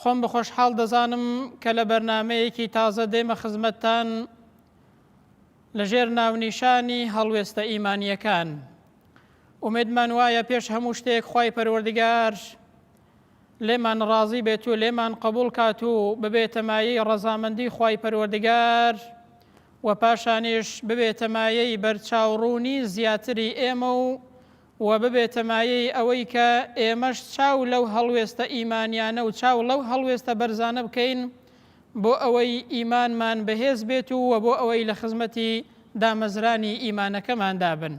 خۆم بەخۆشحاڵ دەزانم کە لە بەرنامەیەکی تازە دێمە خزمەتتان لەژێر ناونیشانی هەڵوێستە ئیمانیەکان. ئومێدمان وایە پێش هەموو شتێک خی پەروەردگار لێمان ڕازی بێت و لێمان قبول کات و ببێتەمایی ڕەزامەندی خی پەروەردگار و پاشانیش ببێتەمایەی بەرچاوڕوونی زیاتری ئێمە و و ببێتە مایەی ئەوەی کە ئێمەش چاو لەو هەڵوێستە ئیمانیانە و چاو لەو هەڵوێستە بەرزانە بکەین بۆ ئەوەی ئیمانمان بەهێز بێت و وە بۆ ئەوەی لە خزمەتی دامەزرانی ئیمانەکەماندا بن.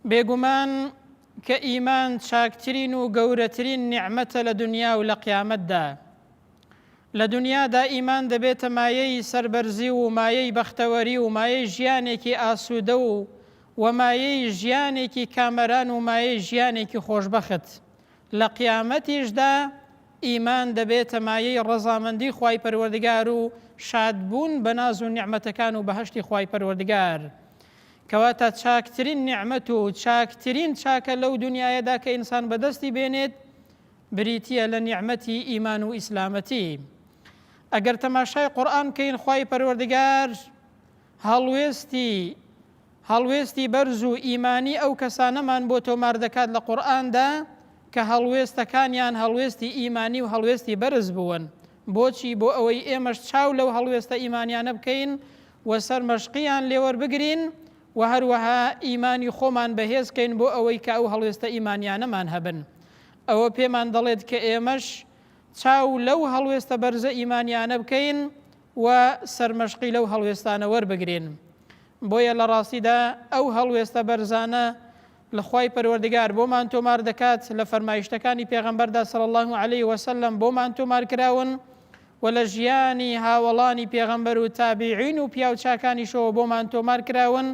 بێگومان کە ئیمان چاکترین و گەورەترین نیعمەتە لە دنیا و لە قیامەتدا. لە دنیادا ئیمان دەبێتە مایەی سەربەرزی و مایەی بەختەوەری و مایەی ژیانێکی ئاسوودە و و مایەی ژیانێکی کامەران و مایەی ژیانێکی خۆشبەخت لە قیامەتیشدا، ئیمان دەبێتە مایەی ڕەزامەندی خوای پەروەردگار و شادبوون بە ناز و نیعمەتەکان و بەهەشتی خوای پەروەردگار. کەواتە چاکترین نیعمەت و چاکترین چاکە لەو دونیایەدا کە ئینسان بەدەستی بێنێت بریتییە لە نیعمەتی ئیمان و ئیسلامەتی. ئەگەر تەماشای قورئان بکەین خوای پەروەردگار هەڵوێستی هەڵوێستی بەرز و ئیمانی ئەو کەسانەمان بۆ تۆمار دەکات لە قورئاندا کە هەڵوێستەکانیان هەڵوێستی ئیمانی و هەڵوێستی بەرز بوون، بۆچی؟ بۆ ئەوەی ئێمەش چاو لەو هەڵوێستە ئیمانیانە بکەین و سەرمەشقیان لێوەربگرین و هەروەها ئیمانی خۆمان بەهێزکەین بۆ ئەوەی کە ئەو هەڵوێستە ئیمانیانەمان هەبن ئەوە پێمان دەڵێت کە ئێمەش چاو لەو هەڵوێستە بەرزە ئیمانیانە بکەین و سەرمەشقی لەو هەڵوێستانە وەربگرین. بۆیە لە ڕاستیدا ئەو هەڵوێستە بەرزانە لە خوای پەروەردگار بۆمان تۆمار دەکات، لە فەرمایشتەکانی پێغەمبەردا صلی اللە علیە وسلم بۆمان تۆمار کراون و لە ژیانی هاوەڵانی پێغەمبەر و تابعین و پیاو چاکانیشەوە بۆمان تۆمار کراون،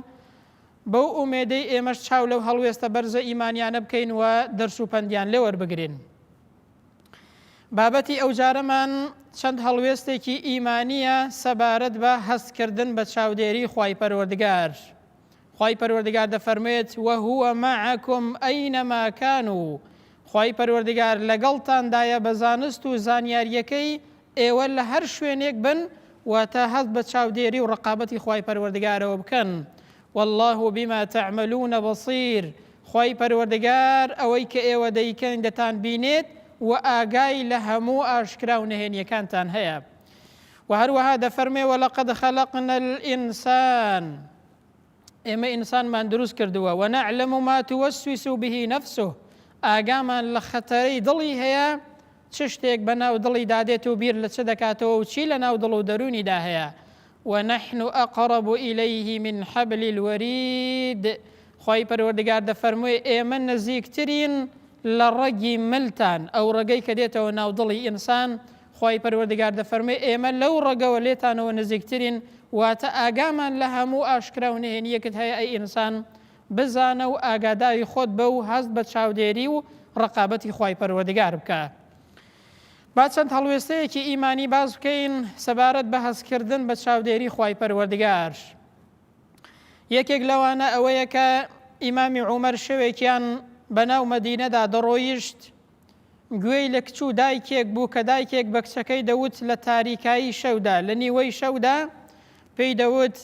بەو ئومێدەی ئێمەش چاو لەو هەڵوێستە بەرزە ئیمانیانە بکەین و دەرس و پەندیان لێ وەربگرین. بابەتی ئەوجارەمان چەند هەڵوێستێکی ئیمانییە سەبارەت بە هەست کردن بە چاودێری خوای پەروەردگار. خوای پەروەردگار دەفەرموێت وهو معکم ئەینەما کانوا خوای پەروەردگار لەگەڵتاندایە بە زانست و زانیارییەکەی ئێوە لە هەر شوێنێک بن واتە هەست بە چاودێری و ڕقابەتی خوای پەروەردگارەوە بکەن واللە بما تعملون بصیر خوای پەروەردگار ئەوەی کە ئێوە دەیکەن دەتان بینێت و ئاگای لە هەموو ئاشکرا و نهێنیەکانتان هەیە و هەروەها دەفەرمێ وەلەقەد خەلقنا الانسان ئێمە ئینسانمان دروست کردووە و نەعلم ما توسوس به نفسه ئاگامان لە خەتەرەی دڵی هەیە چ شتێک بە ناو دڵی دادێت و بیر لە چ دەکاتەوە و چی لە ناو دڵ و دەرونیدا هەیە ونحن أقرب إليه من حبل الوريد خی پەروەردگار دەفەرموێ ئێمە نزیکترین لە ڕەگی ملتان ئەو ڕەگەی کە دێتەوە ناودڵی ئینسان خوای پەروەردگار دەفەرموێ ئێمە لەو ڕەگەوە لێتانەوە نزیکترین واتە ئاگامان لە هەموو ئاشکرا و نهێنیەکت هەیە ئەی ئینسان بزانە و ئاگاداری خۆت بە و هەست بە چاودێری و ڕەقابەتی خوای پەروەردگار بکە با چەند هەڵوێستەیەکی ئیمانی باس بکەین سەبارەت بە هەستکردن بە چاودێری خوای پەروەردگار یەکێک لەوانە ئەوەیە کە ئیمامی عومەر شەوێکیان بەناو مەدینەدا دەڕۆیشت گوێی لە کچ و دایکێک بوو کە دایکێک بە کچەکەی دەوت لە تاریکایی شەودا، لە نیوەی شەودا پێی دەوت،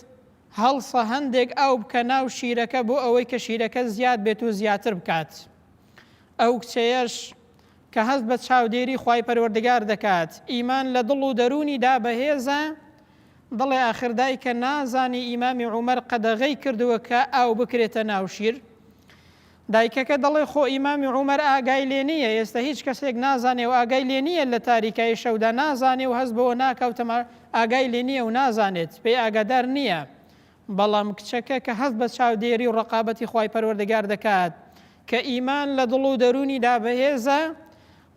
هەڵسە هەندێک ئاو بکە ناو شیرەکە بۆ ئەوەی کە شیرەکە زیاد بێت و زیاتر بکات. ئەو کچەیەش کە هەست بە چاودێری خوای پەروەردگار دەکات، ئیمان لە دڵ و دەروونیدا بەهێزە، دەڵێ ئاخر دایکە نازانی ئیمامی عومەر قەدەغەی کردووە کە ئاو بکرێتە ناو شیر؟ دایکەکە دەڵێ خۆ ئیمامی عومەر ئاگای لێ نی یە ئێستە هیچ کەسێک نازانێ و ئاگای لێ نی یە لە تاریکایی شەودا نازانێ و هەست بەوە ناکا و تەما ئاگای لێ نی یە و نازانێت پێی ئاگادار نی یە بەڵام کچەکە کە هەست بە چاودێری و ڕەقابەتی خوای پەروەردگار دەکات کە ئیمان لە دڵ و دەروونی دا بەهێزە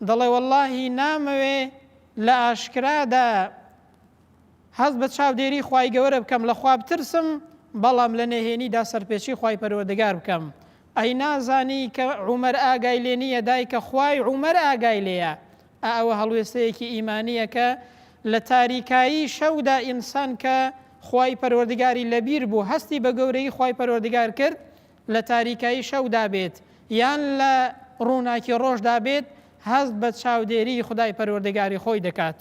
دەڵێ وەڵڵاهی نامەوێ لە ئاشکرادا هەست بە چاودێری خوای گەورە بکەم لە خوا بترسم بەڵام لە نهێنیدا سەرپێچی خوای پەروەردگار بکەم ئەی نازانی کە عومەر ئاگای لێ نییە دایکە خوای عومەر ئاگای لێیە ئا ئەوە هەڵوێستەیەکی ئیمانییە کە لە تاریکایی شەودا ئینسان کە خوای پەروەردگاری لەبیر بوو هەستی بە گەورەی خوای پەروەردگار کرد لە تاریکایی شەودا بێت یان لە ڕووناکی ڕۆژدا بێت هەست بە چاودێری خدای پەروەردگاری خۆی دەکات.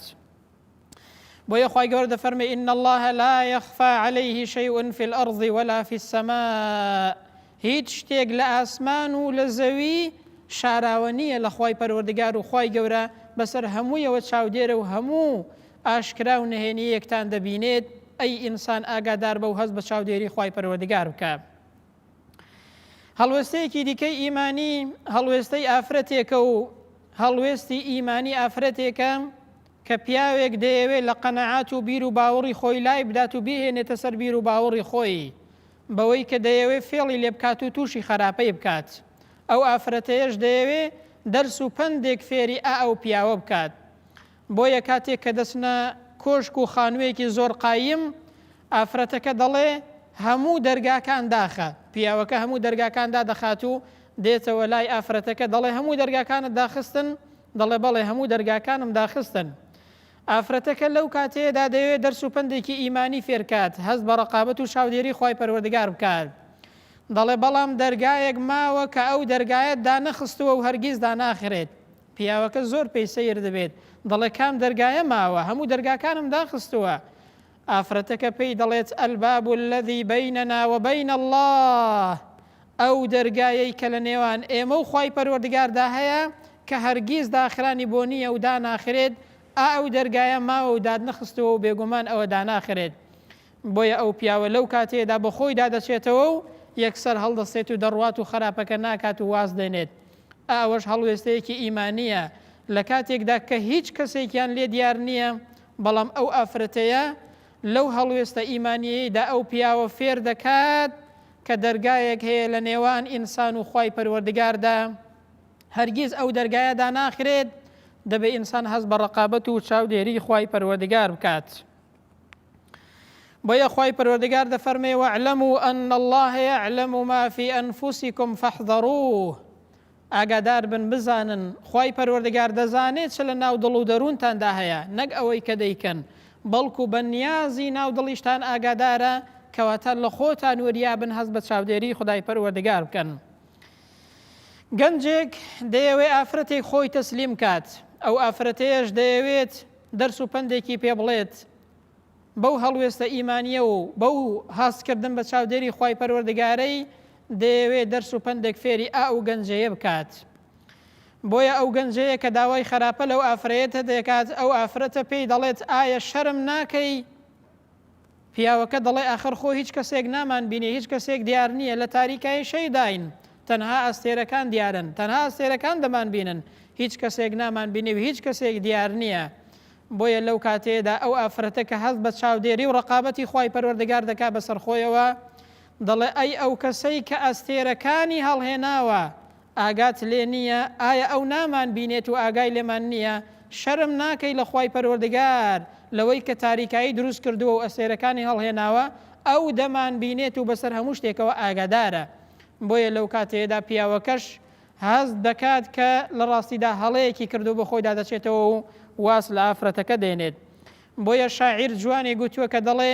بۆیە خوای گەورە دەفەرمێ ان الله لا يخفى عليه شيء في الارض ولا في السماء هیچ شتێک لە ئاسمان و لە زەوی شاراوە نییە لە خوای پەروەردگار و خوای گەورە بەسەر هەموویەوە چاودێرە و هەموو ئاشکرا و نهێنی یەکتان دەبینێت ئەی ئینسان ئاگادار بە و هەست بە چاودێری خوای پەروەردگار بکە هەڵوێستەیەکی دیکەی ئیمانی هەڵوێستەی ئافرەتێکە و هەڵوێستی ئیمانی ئافرەتێکە کە پیاوێک دەیەوێت لە قەنەعات و بیر و باوەڕی خۆی لای بدات و بهێنێتە سەر بیر و باوەڕی خۆی بەوەی کە دەیەوێت فێڵی لێ بکات و تووشی خراپەی بکات ئەو ئافرەتەیەش دەیەوێت دەرس و پندێک فێری ئا ئەو پیاوە بکات بۆیە کاتێک کە دەچنە کۆشک و خانوویەکی زۆر قایم، ئافرەتەکە دەڵێ، هەموو دەرگاکان داخە. پیاوەکە هەموو دەرگاکان دادەخات و دێتەوە لای ئافرەتەکە، دەڵێ، هەموو دەرگاکانت داخستن؟ دەڵێ، بەڵێ، هەموو دەرگاکانم داخستن. ئافرەتەکە لەو کاتەیەدا دەیەوێ دەرس و پەندێکی ئیمانی فێرکات، هەست بە ڕەقابەت و چاودێری خوای پەروەردگار بکات. دەڵێ، بەڵام دەرگایەک ماوە کە ئەو دەرگایەت دانەخستووە و هەرگیز داناخرێت. پیاوەکە زۆر پێی سەیر دەبێت دەڵێت کام دەرگایە ماوە هەموو دەرگاکانم داخستووە ئافرەتەکە پێی دەڵێت الباب الذی بیننا و بین اللە ئەو دەرگایەی کە لە نێوان ئێمە و خوای پەروەردگاردا هەیە کە هەرگیز داخرانی بۆ نییە و داناخرێت ئا ئەو دەرگایە ماوە و دادنەخستووە و بێگومان ئەوە داناخرێت بۆیە ئەو پیاوە لەو کاتێدا بە خۆیدا دەچێتەوە و یەکسەر هەڵدەستێت و دەڕوات و خراپەکە ناکات و واز دێنێت ئەوەش هەڵوێستەیەکی ئیمانییە لە کاتێکدا کە هیچ کەسێکیان لێ دیار نییە، بەڵام ئەو ئافرەتەیە لەو هەڵوێستە ئیمانییەیدا ئەو پیاوە فێر دەکات کە دەرگایەک هەیە لە نێوان ئینسان و خوای پەروەردگاردا هەرگیز ئەو دەرگایە داناخرێت، دەبێ ئینسان هەست بە ڕەقابەت و چاودێری خوای پەروەردگار بکات. بۆیە خوای پەروەردگار دەفەرمێ وەعلەمو ئەن الله یعلم ما فی ئەنفسکم فاحذروه ئاگادار بن بزانن خوای پەروەردگار دەزانێت چ لە ناو دڵ و دەروونتاندا هەیە نەک ئەوەی کە دەیکەن بەڵکو بە نیازی ناو دڵیشتان ئاگادارە کەواتە لە خۆتان وریابن هەست بە چاودێری خدای پەروەردگار بکەن گەنجێک دەیەوێ ئافرەتێک خۆی تەسلیم کات ئەو ئافرەتەیەش دەیەوێت دەرس و پەندێکی پێ بڵێت بەو هەڵوێستە ئیمانیە و بەو هاستکردن بە چاودێری خی پەروەردگارەی دەیەوێ دەرس و پندێک فێری ئا و گەنجەیە بکات. بۆیە ئەو گەنجەیە کە داوای خراپە لەو ئافرەتە دەکات ئەو ئافرەتە پێی دەڵێت ئایا شەرم ناکەی پیاوەکە دەڵێ ئاخر خۆ هیچ کەسێک نامانبینێ، هیچ کەسێک دیار نییە، لە تاریکایی شەیداین، تەنها ئەستێرەکان دیارن، تەنها ئەستێرەکان دەمانبینن، هیچ کەسێک نامانبینێ و هیچ کەسێک دیار نییە. بۆیە لەو کاتەیەدا ئەو ئافرەتە کە هەست بە چاودێری و ڕەقابەتی خوای پەروەردگار دەکا بەسەر خۆیەوە، دەڵێ ئەی ئەو کەسەی کە ئەستێرەکانی هەڵهێناوە، ئاگات لێ نییە؟ ئایا ئەو نامان بینێت و ئاگای لێمان نییە؟ شەرم ناکەی لە خوای پەروەردگار لەوەی کە تاریکایی دروست کردووە و ئەستێرەکانی هەڵهێناوە، ئەو دەمان بینێت و بەسەر هەموو شتێکەوە ئاگادارە. بۆیە لەو کاتەیەدا پیاوەکەش هەست دەکات کە لە ڕاستیدا هەڵەیەکی کردووە بۆ خۆیدا دەچێتەوە و واز لە ئافرەتەکە دێنێت. بۆیە شاعیر جوانی گوتووە کە دەڵێ.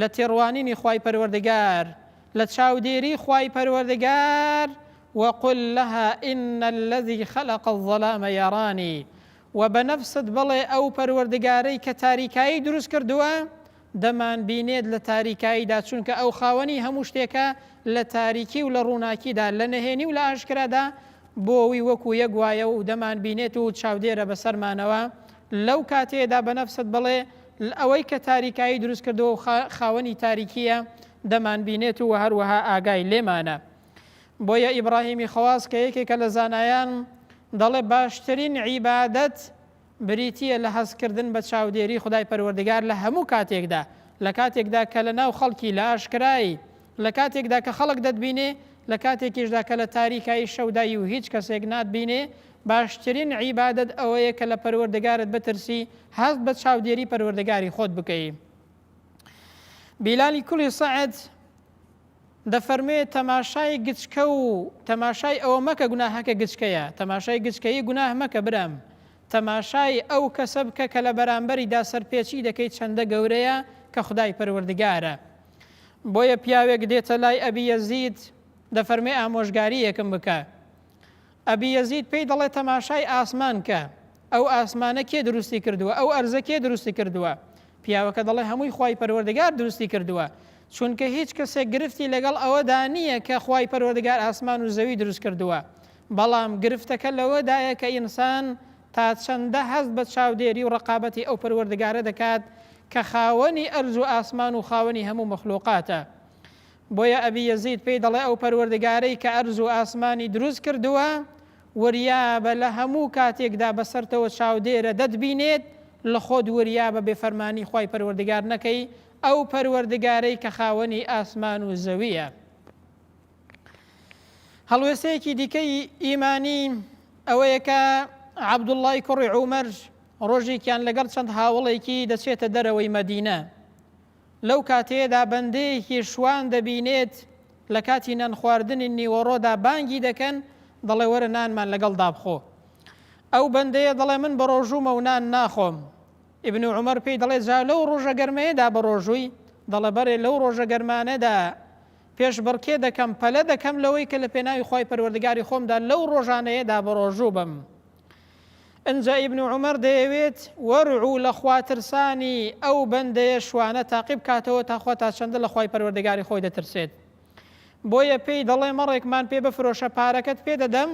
لە تێڕوانینی خوای پەروەردگار، لە چاودێری خوای پەروەردگار، وقل لها ان الذی خلق الظلام یرانی، وە بە نەفست بڵێ ئەو پەروەردگارەی کە تاریکایی دروست کردووە دەمانبینێت لە تاریکاییدا چونکە ئەو خاوەنی هەموو شتێکە لە تاریکی و لە ڕووناکیدا لە نهێنی و لە ئاشکرادا بۆوی وەکو یەک وایە و دەمانبینێت و چاودێرە بەسەرمانەوە لەو کاتەیەدا بە نەفست بڵێ، ئەوەی کە تاریکایی دروست کردووە و خاوەنی تاریکییە، دەمانبینێت و هەروەها ئاگای لێمانە. بۆیە ئیبراهیمی خەواس کە یەکێکە لە زانایان، دەڵێ باشترین عیبادەت بریتییە لە هەستکردن بە چاودێری خودای پەروەردگار لە هەموو کاتێکدا، لە کاتێکدا کە لەناو خەڵکی لە ئاشکرای لە کاتێکدا کە خەڵک دەتبینێ، لە کاتێکیشدا کە لە تاریکایی شەودای و هیچ کەسێک ناتبینێ، باشترین عیبادەت ئەوەیە کە لە پەروەردگارت بترسی، هەست بە چاودێری پەروەردگاری خۆت بکەی. بیلالی کوڵی سەعد دەفەرموێ تەماشای گچکە و تەماشای ئەوە مەکە گوناهەکە گچکەیە، تەماشای گچکەیی گوناه مەکە برام، تەماشای ئەو کەسە بکە کە لە بەرامبەریدا سەرپێچی دەکەیت چەندە گەورەیە کە خودای پەروەردگارە. بۆیە پیاوێک دێتە لای ئەبی یەزید دەفەرمێ ئامۆژگاریەکم بکە ئەبی یەزید پێی دەڵێ تەماشای ئاسمان کە ئەو ئاسمانە کێ دروستی کردووە ئەو ئەرزە کێ دروستی کردووە پیاوەکە دەڵێ هەمووی خی پەروەردگار دروستی کردووە چونکە هیچ کەسێک گرفتی لەگەڵ ئەوەدا نییە کە خی پەروەردگار ئاسمان و زەوی دروست کردووە بەڵام گرفتەکە لەوەدایە کە ئینسان تا چەندە هەست بە چاودێری و ڕەقابەتی ئەو پەروەردگارە دەکات کە خاوەنی ئەرز و ئاسمان و خاوەنی هەموو مەخلوقاتە؟ بۆیە ئەبی یەزید پێی دەڵێ ئەو پەروەردگارەی کە ئەرز و ئاسمانی دروست کردووە وریابە لە هەموو کاتێکدا بەسەرتەوە چاودێرە دەتبینێت لەخۆت وریابە بێ فەرمانی خوای پەروەردگار نەکەی ئەو پەروەردگارەی کە خاوەنی ئاسمان و زەویە. هەڵوێستەیەکی دیکەی ئیمانی ئەوەیە کە عەبدوڵای کوڕی عومەر ڕۆژێکیان لەگەڵ چەند هاوڵێکی دەچێتە دەرەوەی مەدینە لەو کاتێدا بەندەیەکی شوان دەبینێت لە کاتی نان خواردنی نیوەڕۆدا بانگی دەکەن دەڵێ وەرە نانمان لەگەڵ دابخۆ ئەو بەندەیە دەڵێ من بە ڕۆژوومە و نان ناخۆم ئبن و عمر پێی دەڵێ جا لەو ڕۆژە گەرمەیەدا بە ڕۆژووی دەڵێ بەرێ لەو ڕۆژە گەرمانەدا پێشبڕکێ دەکەم، پەلە دەکەم لەوەی کە لە پێناوی خوای پەروەردگاری خۆمدا لەو ڕۆژانەیەدا بەڕۆژوو بم. ئنجا ئیبن عومەر دەیەوێت وەرعو لە خواترسانی ئەو بەندەیە شوانە تاقی بکاتەوە تا خوا تا چەندە لە خوای پەروەردگاری خۆی دەترسێت. بۆیە پێی دەڵێ مەڕێکمان پێ بفرۆشە پارەکەت پێ دەدەم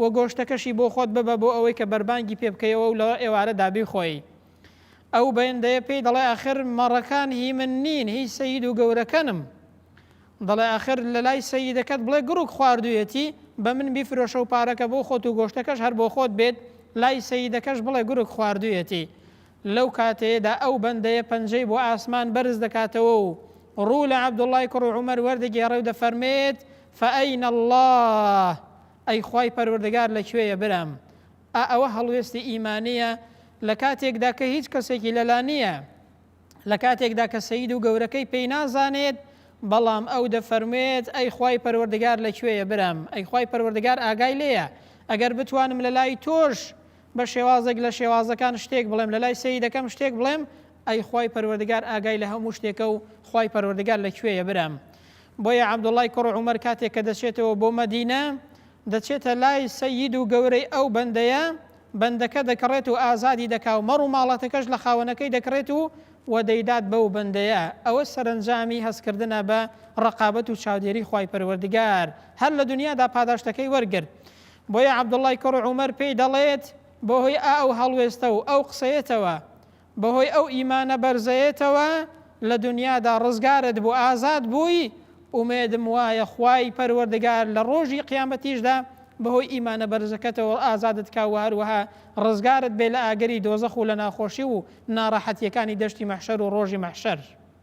و گۆشتەکەشی بۆ خۆت ببە بۆ ئەوەی کە بەربانگی پێ بکەیەوە و لە ئێوارەدا بیخۆی. ئەو بەندەیە پێی دەڵێ ئاخر مەڕەکان هی من نین هی سەید و گەورەکەنم دەڵێ ئاخر لە لای سەیدەکەت بڵێ گڕوک خواردویەتی بە من بیفرۆشە و پارەکە بۆ خۆت و گۆشتەکەش هەر بۆ خۆت بێت لای سەیدەکەش بڵێ گورک خواردویەتی لەو کاتەیەدا ئەو بەندەیە پەنجەی بۆ ئاسمان بەرز دەکاتەوە و ڕوو لە عەبدوڵای کوڕ و عومەر وەردەگێڕێ و دەفەرمێت فەئەینە الله ئەی خوای پەروەردگار لە کوێیە برام ئا ئەوە هەڵوێستی ئیمانییە لە کاتێکدا کە هیچ کەسێکی لەلا نییە، لە کاتێکدا کە سەید و گەورەکەی پێی نازانێت، بەڵام ئەو دەفەرموێت، ئەی خوای پەروەردگار لە کوێیە برام؟ ئەی خوای پەروەردگار ئاگای لێیە؟ ئەگەر بتوانم لە لای تۆش بە شێوازێک لە شێوازەکان شتێک بڵێم، لە لای سەیدەکەم شتێک بڵێم، ئەی خوای پەروەردگار ئاگای لە هەموو شتێکە و خوای پەروەردگار لە کوێیە برام؟ بۆیە عەبدوڵڵای کوڕ عومەر کاتێک کە دەچێتەوە بۆ مەدینە، دەچێتە لای سەید و گەورەی ئەو بەندەیە بەندەکە دەکڕێت و ئازادی دەکا و مەڕ و ماڵاتەکەش لە خاوەنەکەی دەکڕێت و و دەیدات بەو بەندەیە، ئەوە سەرەنجامی هەستکردنە بە ڕەقابەت و چاودێری خوای پەروەردگار، هەر لە دنیادا پاداشتەکەی وەرگرت. بۆیە عەبدوڵڵای کوڕ عومەر پێی دەڵێت، بەهۆی ئا ئەو هەڵوێستە و ئەو قسەیەتەوە، بەهۆی ئەو ئیمانە بەرزەیەتەوە لە دونیادا ڕزگارت بوو ئازاد بووی، ئومێدم وایە خوای پەروەردگار لە ڕۆژی قیامەتیشدا بەهۆی ئیمانە بەرزەکەتەوە ئازادت کا و هەروەها ڕزگارت بێ لە ئاگری دۆزەخ و لە ناخۆشی و ناڕەحەتیەکانی دەشتی مەحشەر و ڕۆژی مەحشەر.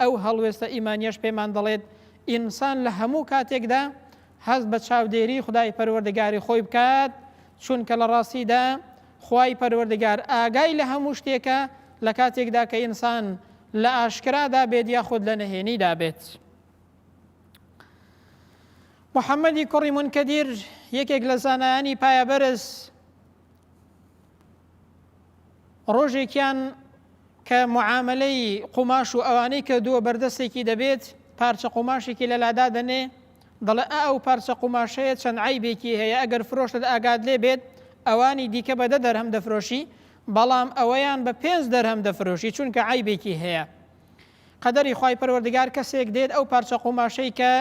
ئەو هەڵوێستە ئیمانیەش پێمان دەڵێت ئینسان لە هەموو کاتێکدا هەست بە چاودێری خدای پەروەردگاری خۆی بکات چونکە لە ڕاستیدا خوای پەروەردگار ئاگای لە هەموو شتێکە لە کاتێکدا کە ئینسان لە ئاشکرادا بێت یاخود لە نەهێنیدا بێت. محەممەدی کوڕی منکەدیر یەکێک لە زانایانی پایەبەرز ڕۆژێکیان کە معاملەی قوماش و ئەوانەی کە دووە بەردەستێکی دەبێت پارچە قوماشێکی لەلادا دەنێ دەڵێ ئا ئەو پارچە قوماشەیە چەند عیبێکی هەیە ئەگەر فرۆشت ئاگات لێ بێت ئەوانی دیکە بەدە دەرهەم دەفرۆشی بەڵام ئەوەیان بە پێنج دەرهەم دەفرۆشی چونکە عیبێکی هەیە قەدەری خی پەروەردگار کەسێک دێت ئەو پارچە قوماشەی کە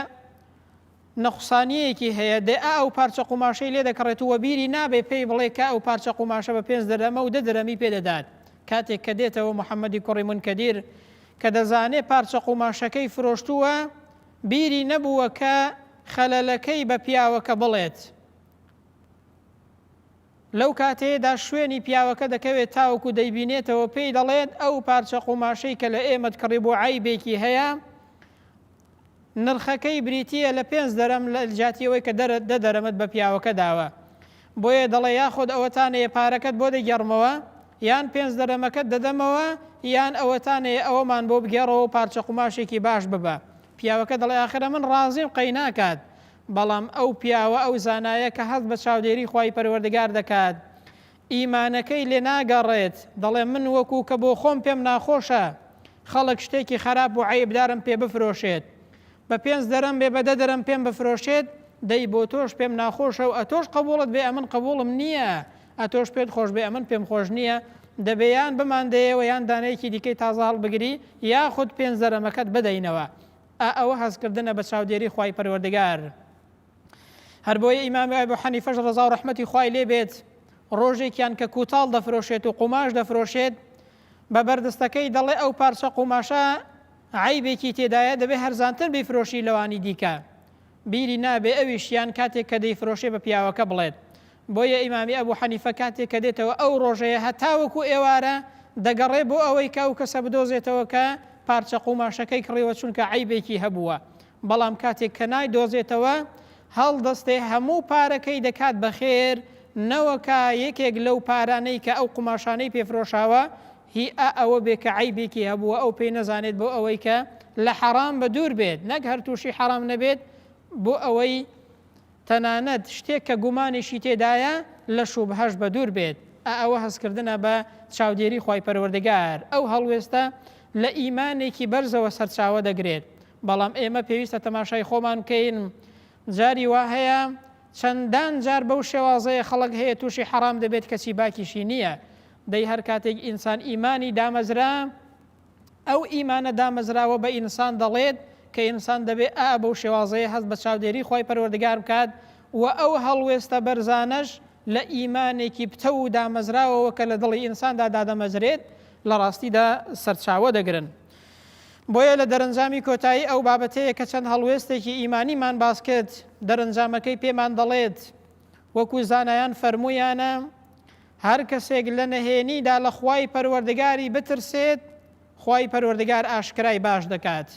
نوقسانیەکی هەیە دە ئە ئەو پارچە قوماشەی لێ دەکڕێت و وەبیری نابێ پێی بڵێ کە ئەو پارچە قوماشە بە پێنج درەمە و دە درەمی پێ دەدات کاتێک کە دێتەوە محمدی کوڕی منکەدیر کە دەزانێ پارچە قوماشەکەی فرۆشتووە بیری نەبووە کە خەلەلەکەی بە پیاوەکە بڵێت. لەو کاتەیەدا شوێنی پیاوەکە دەکەوێت تاوەکو دەیبینێتەوە پێی دەڵێت ئەو پارچە قوماشەی کە لە ئێمەت کڕیبوو عەیبێکی هەیە نرخەکەی بریتییە لە پێنج دەرەم لە جاتی ئەوەی کە دەرە دە دەرەمت بە پیاوەکە داوە بۆیە دەڵێ یاخۆد ئەوەتانەیە پارەکەت بۆ دەگەڕمەوە یان پێنج دەرەمەکەت دەدەمەوە یان ئەوەتانەیە ئەوەمان بۆ بگێڕەوە پارچە قوماشێکی باش ببە پیاوەکە دەڵێ ئاخرە من ڕازیم قەی ناکات بەڵام ئەو پیاوە ئەو زانایە کە هەست بە چاودێری خوای پەروەردگار دەکات ئیمانەکەی لێ ناگەڕێت دەڵێ من وەکو کە بۆ خۆم پێم ناخۆشە خەڵک شتێکی خەراپ و عەیبدارم پێ بفرۆشێت بە پێنج درەم بێ بە دە درەم پێم بفرۆشێت دەی بۆ تۆش پێم ناخۆشە و ئەتۆش قبوڵت بێ ئەمن قبوڵم نییە ئەتۆش پێت خۆش بێ ئەمن پێم خۆش نییە دەبێ یان بماندەیەوە یان دانەیەکی دیکەی تازە هەڵبگری یاخود پێنج درەمەکەت بدەینەوە ئا ئەوە هەستکردنە بە چاودێری خوای پەروەردگار هەر بۆیە ئیمام ئەبو حەنیفەش ڕزا و ڕەحمەتی خوای لێ بێت ڕۆژێکیان کە کوتاڵ دەفرۆشێت و قوماش دەفرۆشێت بە بەردستەکەی دەڵێ ئەو پارچە قوماشە عیبێکی تێدایە دەبێ هەرزانتر بیفرۆشی لەوانی دیکە بیری نابێ ئەویشیان کاتێک کە دەیفرۆشێ بە پیاوەکە بڵێت بۆیە ئیمامی ئەبو حەنیفە کاتێک کە دێتەوە ئەو ڕۆژەیە هەتاوەکو ئێوارە دەگەڕێ بۆ ئەوەی کە ئەو کەسە بدۆزێتەوە کە پارچە قوماشەکەی کڕیوە چونکە عەیبێکی هەبووە بەڵام کاتێک کە نایدۆزێتەوە هەڵدەستێ هەموو پارەکەی دەکات بە خێر نەوەکا یەکێک لەو پارانەی کە ئەو قوماشانەی پێفرۆشاوە هی ئا ئەوە بێ کە عەیبێکی هەبووە ئەو پێی نەزانێت بۆ ئەوەی کە لە حەڕام بە دوور بێت نەک هەر تووشی حەڕام نەبێت بۆ ئەوەی تەنانەت شتێک کە گومانێکی تێدایە لە شوبهەش بەدوور بێت، ئا ئەوە هەستکردنە بە چاودێری خوای پەروەردگار، ئەو هەڵوێستە لە ئیمانێکی بەرزەوە سەرچاوە دەگرێت، بەڵام ئێمە پێویستە تەماشای خۆمان بکەین جاری وا هەیە چەندان جار بەو شێوازەیە خەڵک هەیە تووشی حەرام دەبێت کەچی باکیشی نییە، دەی هەرکاتێک ئینسان ئیمانی دامەزرا، ئەو ئیمانە دامەزراوە بە ئینسان دەڵێت کە ئینسان دەبێ ئا بەو شێوازەیە هەست بە چاودێری خوای پەروەردگار بکات و ئەو هەڵوێستە بەرزانەش لە ئیمانێکی پتەو و دامەزراوەوە کە لە دڵی ئینساندا دادەمەزرێت لە ڕاستیدا سەرچاوە دەگرن. بۆیە لە دەرەنجامی کۆتایی ئەو بابەتەیە کە چەند هەڵوێستێکی ئیمانیمان باس کرد، دەرەنجامەکەی پێمان دەڵێت وەکو زانایان فەرموویانە، هەر کەسێک لە نەهێنیدا لە خوای پەروەردگاری بترسێت خوای پەروەردگار ئاشکرای باش دەکات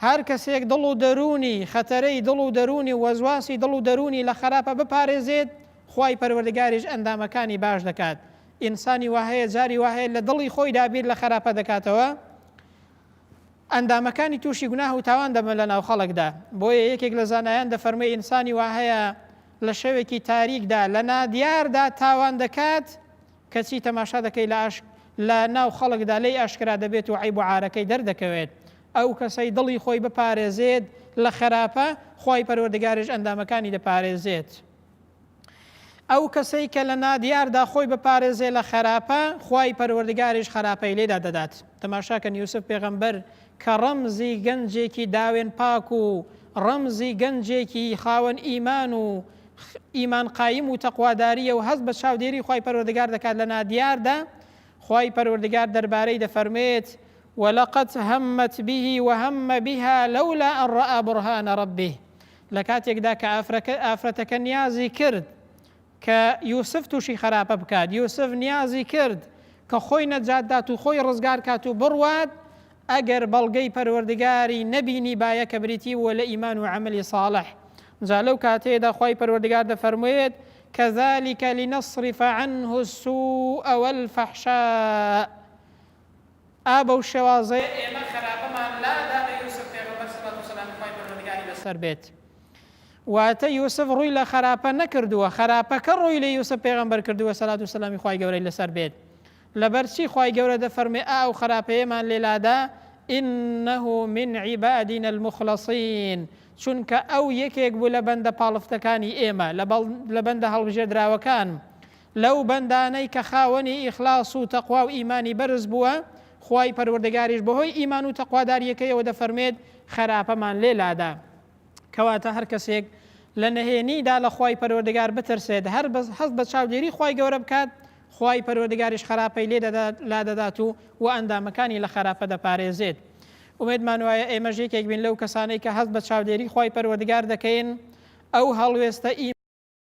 هەر کەسێک دڵ و دەروونی خەتەرەی دڵ و دەروونی و وەزواسی دڵ و دەروونی لە خراپە بپارێزێت خوای پەروەردگاریش ئەندامەکانی باش دەکات ئینسانی وهەیە جاری وهەیە لە دڵی خۆی دابیر لە خراپە دەکاتەوە ئەندامەکانی تووشی گوناه و تاوان دەبن لە ناو خەڵکدا بۆیە یەکێک لە زانایان دەفەرمووی ئینسانی وهەیە لە شەوێکی تاریکدا لە نادیاردا تاوان دەکات، کەچی تەماشا دەکەی لە ئاش لە ناو خەڵکدا لێی ئاشکرا دەبێت و عەیب و عارەکەی دەردەکەوێت. ئەو کەسەی دڵی خۆی بپارێزێت لە خەراپە، خوای پەروەردگاریش ئەندامەکانی دەپارێزێت. ئەو کەسەی کە لە نادیاردا خۆی بپارێزێ لە خەراپە، خوای پەروەردگاریش خەراپەی لێدا دەدات. تەماشاکەن یوسف پێغەمبەر کە ڕەمزی گەنجێکی داوێن پاک و ڕەمزی گەنجێکی خاوەن ئیمان و ئیمان قایم و تەقواداریە و هەست بە چاودێری خوای پەروەردگار دەکات لە نادیاردا خوای پەروەردگار دەربارەی دەفەرمێت ولقد همت به وهم بها لولا ان رأى برهان ربه لە کاتێکدا کە ئافرەتەکە نیازی کرد کە یوسف توشی خەراپە بکات یوسف نیازی کرد کە خۆی نەجات دات و خۆی ڕزگار کات و بڕوات ئەگەر بەڵگەی پەروەردگاری نەبینی بایە کە بریتی بووە لە ئیمان و عملی صاڵح جا لەو کاتەیەدا خی پەروەردگار دەفەرموێت كذلك لنصرف عنه السوء والفحشاء ئا بەو شێوازەیە ئێمە خەراپەمان لادا بە یوسف پێغەمبەر سەڵات و سەلامی خوای پەروەردگاری لەسەر بێت واتە یوسف ڕووی لە خەراپە نەکردووە خەراپەکە ڕووی لە یوسف پێغەمبەر کردووە سەلات و سەلامی خوای گەورەی لەسەر بێت لەبەرچی خوای گەورە دەفەرمێ ئا و خەراپەیەمان لێلادا ئینه من عیبادین المخلصین چونکە ئەو یەکێک بوو لە بەندە پاڵفتەکانی ئێمە لە بەندە هەڵبژێدراوەکان لەو بەندانەی کە خاوەنی ئیخلاص و تەقوا و ئیمانی بەرز بووە، خوای پەروەردگاریش بەهۆی ئیمان و تەقوادارییەکەیەوە دەفەرموێت، خراپەمان لێ لادا. کەواتە هەر کەسێک لە نەهێنیدا لە خوای پەروەردگار بترسێت، هەر هەست بە چاودێری خوای گەورە بکات، خوای پەروەردگاریش خراپەی لێ لادەدات و وە ئەندامەکانی لە خراپە دەپارێزێت. ئومێدمان وایە ئێمەش یەکێک بین لەو کەسانەی کە هەست بە چاودێری خوای پەروەردگار دەکەین، ئەو هەڵوێستە